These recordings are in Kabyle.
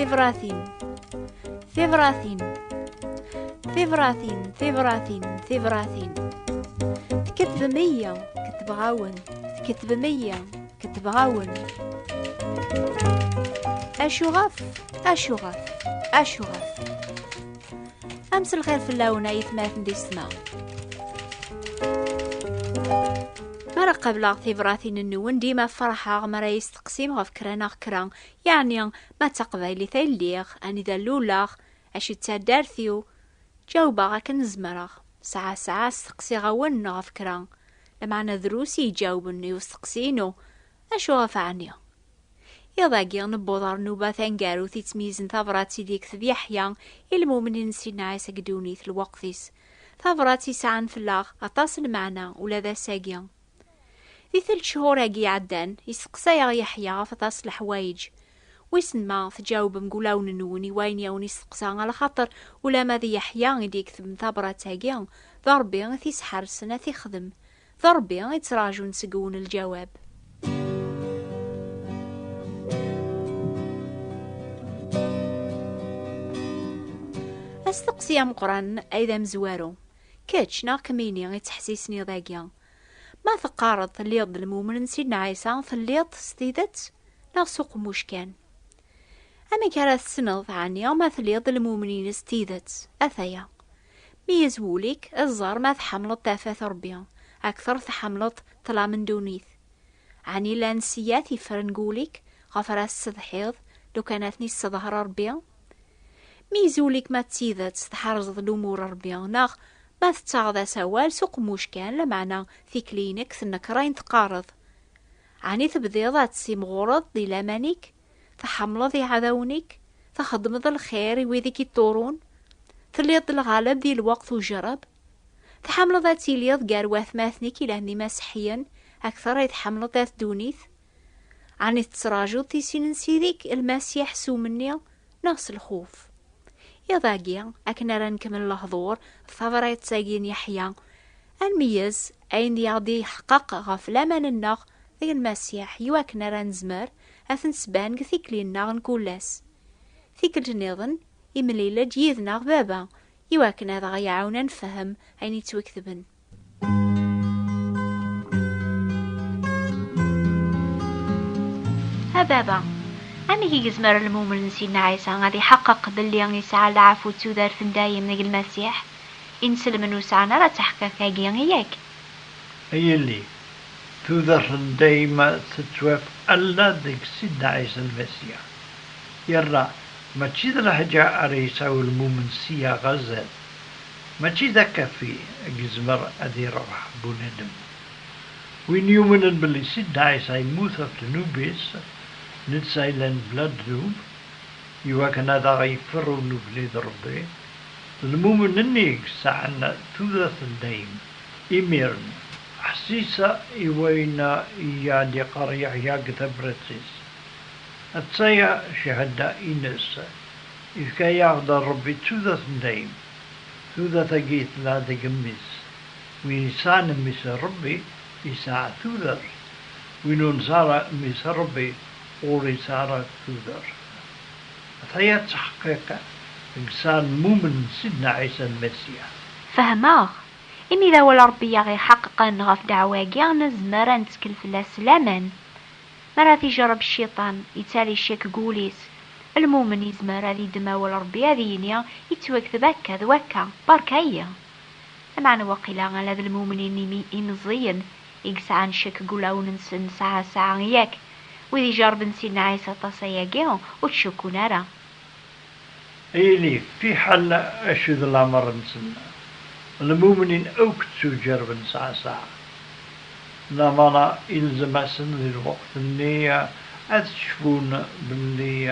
Tibratin Tibratin Tibratin Tibratin Tibratin Tkettbem iya Kettbeɣ-awen Tkettbem iya Kettbeɣ-awen Acuɣef Acuɣef Acuɣef Am s lxir fell-awen ay tmaten di ssma. Mara qableɣ tibratin-nwen dima ferḥeɣ mara yi-steqsim ɣef kra neɣ kra, yeɛni ma d taqbaylit ay lliɣ, anida luleɣ, acu d taddart-iw. Ǧawbeɣ akken zemreɣ. Saɛa saɛa steqsiɣ-awen ɣef kra, lameɛna drus i yi-ǧawben i usteqsi-inu, acu ɣef ɛni? Iḍ-agi, newweḍ ɣer nnuba taneggarut yettmeyyizen tabrat ideg yekteb Yeḥya i lmumnin n Sidna Ɛisa deg ddunit, lweqt-is. Tabrat yesɛan fell-aɣ aṭas n lmeɛna ula d ass-agi. Di telt-chhur-agi iɛeddan, yesteqsa-aɣ Yeḥya ɣef aṭas n leḥwayeǧ. Wissen ma tǧawbem deg wulawen-nwen i wayen i awen-yesteqsa, alaxaṭer ulamma d Yeḥya i d-yeketben tabrat-agi, d Ṛebbi i t-yesḥersen ad t-ixdem. D Ṛebbi i ttraǧun seg-wen lǧawab. Asteqsi ameqqran ay d amezwaru, kečč neɣ kemmini i ttḥessisen iḍ-agi, ma teqqareḍ telliḍ d lmumen n Sidna Ɛisa, telliḍ-t s tidet neɣ s uqemmuc kan? Amek ara tessneḍ ɛni ma telliḍ d lmumen-ines s tidet? Ataya. Mi yez wul-ik, ad ẓer ma tḥamleḍ tafat Rebbi akter tḥamleḍ ṭlam n ddunit. Ɛni llan siyat yeffren deg wul-ik ɣef ara tessetḥiḍ lukan ad ten-isseḍher Rebbi? Mi yez wul-ik ma d tidet tḥerzeḍ lumur n Rebbi neɣ ma tettaɣeḍ-as awal s uqemmuc kan lameɛna tikli-inek tennekrayen teqqareḍ, Ɛni tebdiḍ ad tessimɣureḍ di laman-ik? tḥemmleḍ iɛdawen-ik, txeddmeḍ lxir i wid i k-iṭṭurun, telliḍ-d lɣaleb di lweqt ujerreb, tḥemmleḍ ad tiliḍ gar watmaten-ik ilan d imaseḥyen akteṛ i tḥemmleḍ dat ddunit? Ɛni tettrajuḍ tisin n Sidi-k Lmasiḥ s umenni neɣ s lxuf? Iḍ-agi, akken ara nekmel lehduṛ d tabṛat-agi n Yeḥya, ad nmeyyez ayen i aɣ-d-iḥeqqeq ɣef laman-nneɣ deg Lmasiḥ i wakken ara nezmer ad ten-sban deg tikli-nneɣ n kul ass. Tikkelt nniḍen, imlil-d yid-neɣ Baba, iwakken ad aɣ-iɛawen ad nfehhem ayen yettwaketben. A Baba, amek i gezmer lmumel n Sidna Ɛisa ad iḥeqqeq belli isɛa leɛfu d tudert n dayem deg Lmasiḥ? Inselmen ur sɛan ara taḥeqqaqa-agi, yak? A Yelli, Tudert n dayem tettwaf ala deg Sidna Ɛisa Lmasiḥ. Yerna mačči d leḥǧa ara yesɛu ulmumen ssya ɣer zdat, mačči d akaffi i yezmer ad irebḥ bunadem. Win yumnen belli Sidna Ɛisa yemmut ɣef ddnub-is, netta yellan bla ddnub, iwakken ad aɣ-yeffer ur nuklid Rebbi, d lmumen-nni i yesɛan tudert n dayem. Imiren, ḥessisa i wayen i aɣ-d-yeqqar Yeḥya deg tabrat-is. Atta ya cchada-ines, ifka-yaɣ-d Ṛebbi d tudert n dayem. Tudert-agi tella deg Mmi-s. Win yesɛan Mmi-s Ṛebbi, yesɛa tudert. Win ur nesɛi ara Mmi-s Ṛebbi, ur yesɛi ara tudert. Ataya ttḥeqqiq deg sɛemmumen n Sidna Ɛisa Lmasiḥ. Fehmeɣ. Imi d awal Ṛebbi i aɣ-iḥeqqeqen ɣef ddeɛwa-agi, nezmer ad nettkel fell-as s laman. Mi ara t-ijerreb Cciṭan, yettali ccek deg wul-is. Lmumen yezmer ad iddem awal Ṛebbi ad yini, Yettwakteb akka d wakka, beṛka-iyi! Lameɛna waqila ala d lmumnin imeẓẓiyen i yesɛan ccek deg wulawen-nsen nesɛa ssaɛa, yak wid ijerrben Sidna Ɛisa aṭas ayagi ur ttcukkun ara. Ay ili fiḥel acu d lamer-nsen, lmumnin akk ttujerrben sɛa ssaɛa, lamana ilzem-asen di lweqt-nni ad cfun belli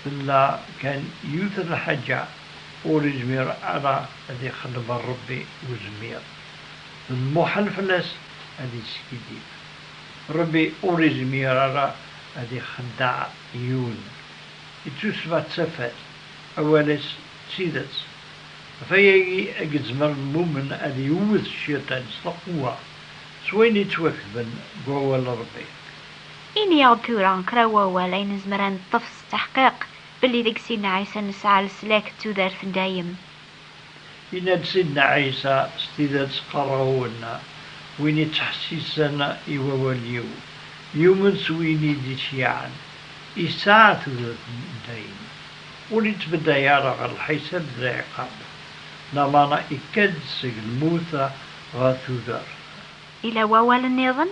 tella kan yiwet n lḥaǧa ur izmir ara ad ixdem Rebbi Uzmir. D muḥal fell-as ad yeskiddib. Rebbi ur izmir ara ad ixeddeɛ yiwen. I tussba d tafat, awal-is d tidet. Ɣef wayagi i yezmer lmumen ad iwwet cciṭan s lqewwa, s wayen yettwaketben deg wawal n Rebbi. Ini-aɣ-d tura kra n wawal ay nezmer ad neṭṭef s tteḥqiq belli deg-s inna Ɛisa nesɛa leslak d tudert n dayem. Yenna-d Sidna Ɛisa, S tidet qqareɣ-wen, win ittḥessisen i wawal-iw, yumen s win i d-iceyyɛen, isɛa tudert n dayem, ur ittbedday ara ɣer lḥisab d lɛiqab, lameɛna ikka-d seg lmut ɣer tudert. Yella wawal nniḍen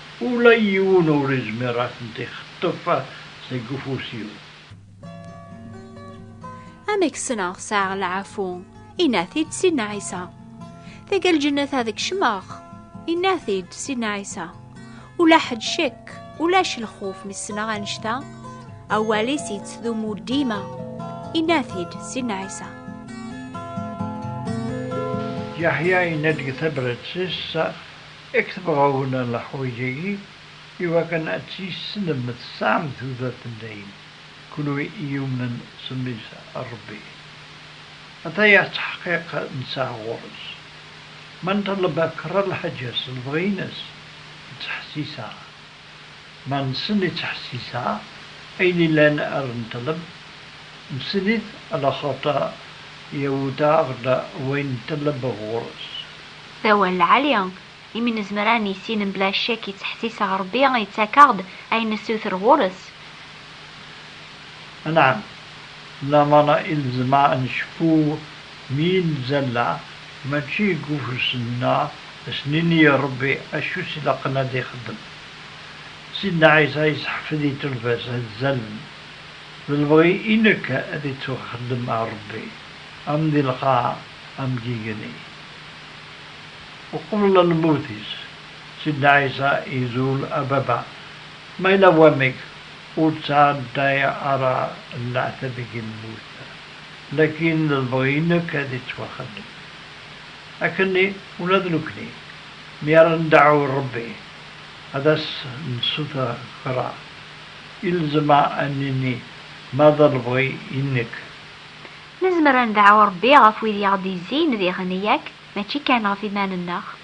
Ula i yiwen ur izmir a tent-ixeṭṭef seg ufus-iw. Amek ssneɣ sɛiɣ lɛafu? Inna-t-id Sidna Ɛisa. Taga lǧennet ad kecmeɣ? Inna-t-id Sidna Ɛisa. Ula ḥed ccekk, ulac lxuf mi ssneɣ annect-a? Awal-is yettdumu dima. Inna-t-id Sidna Ɛisa. Yaḥya yenna-d deg tabrat-is, I ketebɣawin a leḥwaǧ-agi, iwakken ad tt-yessnem, tesɛam tudert n dayem, kunwi i yumnen s mmi-s n Rebbi. Ata ya ttḥeqqiq nesɛa ɣur-s. Ma nṭelleb akk kra n lḥaǧa s lebɣi-ines, nettḥessis-aɣ. Ma nessen i ttḥessisa, ayen illan ar nṭleb, nessen-it laxaṭer yewwet-aɣ-d wayen nṭleb ɣur-s. D awal lɛali, imi nezmer ad nissin mebla ccek i ttḥessiseɣ Rebbi yettak-aɣ-d ayen nessuter ɣur-s. Anɛam, lameṛ i nezmer ad necfu mi i nezzalla, mačči deg ufus-nneɣ, ad s-nini i Ṛebbi acu i s-ilaqen ad ixeddem. Sidna Ɛisa yesseḥfed i tulfa-s ad zzalen, d lebɣi i nekk ad ittuxeddem a Ṛebbi, am di lqaɛa am deg igenni. Uqbel lmut-is, Sidna Ɛisa izul, A Baba, ma yella wamek, Ur ttɛadaya ara leɛtab i yemmut, lakin lebɣi nekk ad ittwaxdem. Akkenni ula d nekni, mi ara ndeɛɛu i Rebbi, ad as-nessuter kra, ilzem ad nini ma d lebɣi i nekk. Nezmer ad ndeɛɛu Rebbi ɣef wid i aɣ-d-yezzin, diɣen, yak, mačči kan ɣef yiman-nneɣ.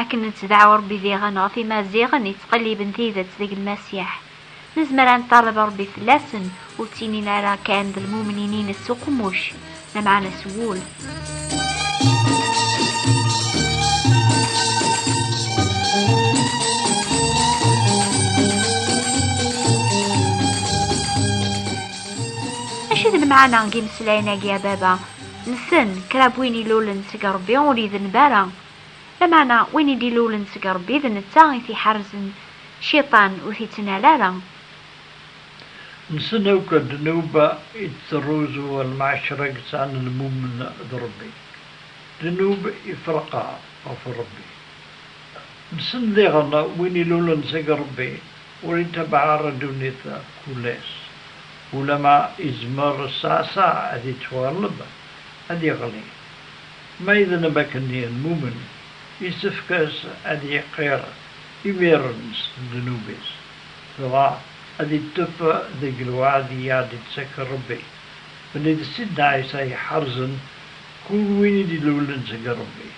Akken nettdaɛu Ṛebbi diɣen ɣef Imaziɣen yettqelliben tidet deg Lmasiḥ, nezmer ad neṭṭaleb Ṛebbi fell-asen, ur ttinin ara kan d lmumnin-ines s uqemmuc, lameɛna s wul. Acu d lmeɛna n yimeslayen-agi a baba? Nsen, kra n win ilulen seg Ṛebbi ur idenb ara. Lameɛna win i d-ilulen seg Ṛebbi d netta i t-iḥerzen Cciṭan ur t-ittnal ara. Nsen akk ddnuba i d-terruzu lmeɛcra yesɛan lmumen d Ṛebbi. Ddnub ifreq ɣef Ṛebbi. Nsen diɣen win ilulen seg Ṛebbi ur itabaɛ ara ddunit kul-as. Ulamma izmer ssaɛsaɛ ad ittwaɣleb, ad iɣli. Ma idneb akken yenmumen, yessefk-as ad yeqqir imiren s ddnub-is, dɣa ad ittef deg lweɛd i aɣ-d-itttak Rebbi, belli d Sidna Ɛisa iḥerzen kul win i d-ilulen seg Rebbi,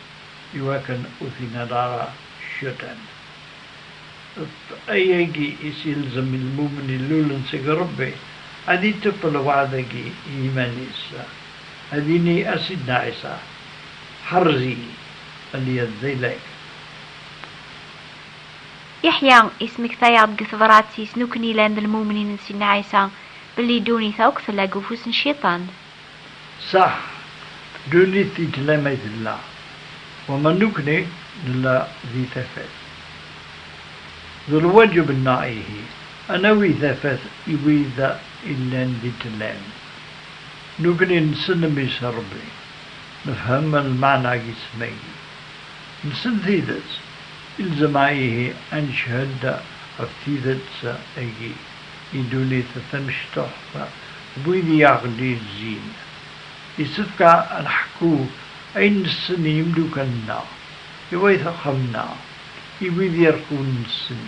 iwakken ur t-inal ara Cciṭan. D ayagi i s-ilzem i lmumen ilulen seg Rebbi, ad ittef lweɛd-agi i yiman-is. Ad yini a Sidna Ɛisa, Ḥerrez-iyi a lyazzaylayt. Yeḥya yesmekta-yaɣ-d deg tebrat yes n ukken ilan d lmumnin n Sidna Ɛisa, belli ddunit akk tella deg ufus n cciṭan. Saḥ, ddunit tettla may tella, wama nekni nella di tafat. D lwaǧeb-nneɣ ihi, a nawi tafat i wid illan di ttlan. Nekkni nessen Mmi-s n Rebbi, nefhem lmeɛna-agi s tmagit. Nessen tidet, ilzem-a ihi ad neched ɣef tidet-agi i ddunit tamecṭuḥt d wid i aɣ-d-yezzin. Yessefk ad nḥekku ayen nessen i yimeddukkal-nneɣ, i wayt uxxam-nneɣ, i wid ireqqunen nessen.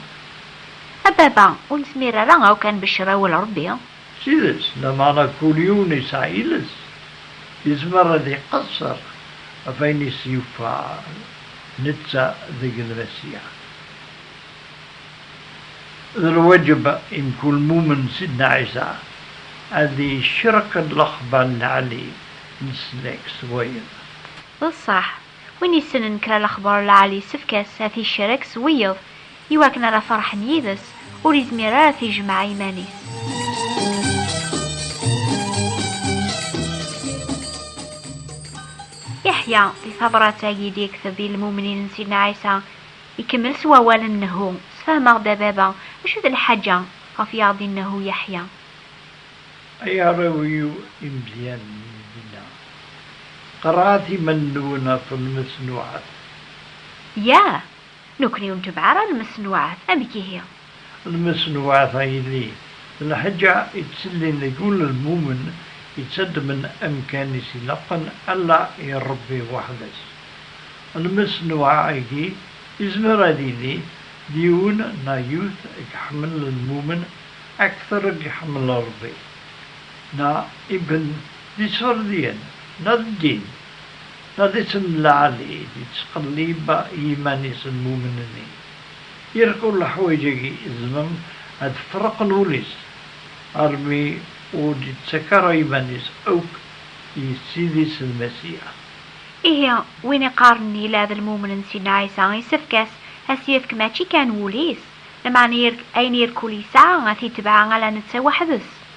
A baba, ur nezmir ara akk ad nbeccer awal Rebbi? D tidet, lameɛna kul yiwen yesɛa iles, yezmer ad iqesser ɣef ayen i s-yufan, netta deg Lmasiya. D lwaǧeb i mkul mumen Sidna Ɛisa ad icreq lexbar n lɛali n snag s wayeḍ. D ṣṣeḥ, win yessnen kra lexbar n lɛali yessefk-as ad t-icreq s wiyeḍ, Iwakken ara ferḥen yid-s, ur izmir ara t-ijmeɛ iman-is. Yeḥya, di tabrat-agi d yekteb i lmumnin n Sidna Ɛisa, ikemmel s wawal n Nehu, Sfehmeɣ-d a baba, acu d lḥaǧa ɣef i aɣ-d-innehu Yeḥya. Ay arraw-iw imelyanen n Dina, qerɛet iman-nwen ɣef Mnes Nuɛas. Yah! Nekkni ur ntebbeɛ ara lmeṣnuɛat, amek ihi? Lmeṣnuɛat, a yelli, d lḥaǧa ittellin deg ul n lmumen, ittaddmen amkan i s-ilaqen Alla i Ṛebbi weḥd-s. Lmeṣnuɛ-agi izmer ad yili d yiwen neɣ yiwet i iḥemmel lmumen akteṛ i iḥemmel Ṛebbi, neɣ iben d Iṣefṛdiyen, neɣ d ddin. Ma d iţ-n-lɛali i d-iţqellib yiman-is lmumen-nni, irkul leḥwayeǧ-agi izemren a d-ferqen ul-is, armi ur d-iţţak ara iman-is akk i Ssid-is Lmasiya. Ihi, win iqqaren ila d lmumen n Sidna Ɛisa, isefk-as a s-yefk mačči kan wul-is, lameɛna ayen irkul yesɛa a t-itbeɛ ala neţţa weḥd-s.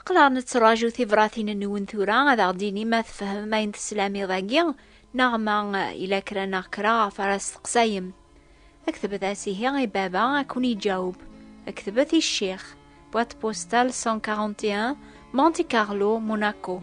Aql-aɣ nettraǧu tibratin-nwen tura ad aɣ-d-tini ma tfehmem ayen teslam iḍ-agi neɣ ma yella kra neɣ kra ɣef ara steqsayem. Ktbet-as ihi i baba ad ken-iǧaweb. Ktbet i ccix, boîte postale 141, Monte Carlo, Monaco.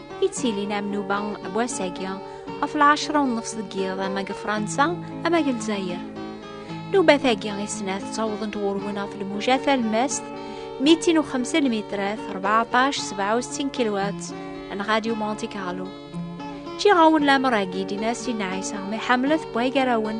i d-tilin am nuba n wass-agi ɣef lɛecra u nnefs deg yiḍ ama deg Fransa ama deg Lezzayer. Nubat-agi i snat ttawḍent ɣur-wen ɣef lmuja talmast 205 lmitrat 1467 kilowat n Radio Monte Carlo. Ǧǧiɣ-awen lamer-agi d Inasi n Ɛisa mi ḥemmlet n waygarawen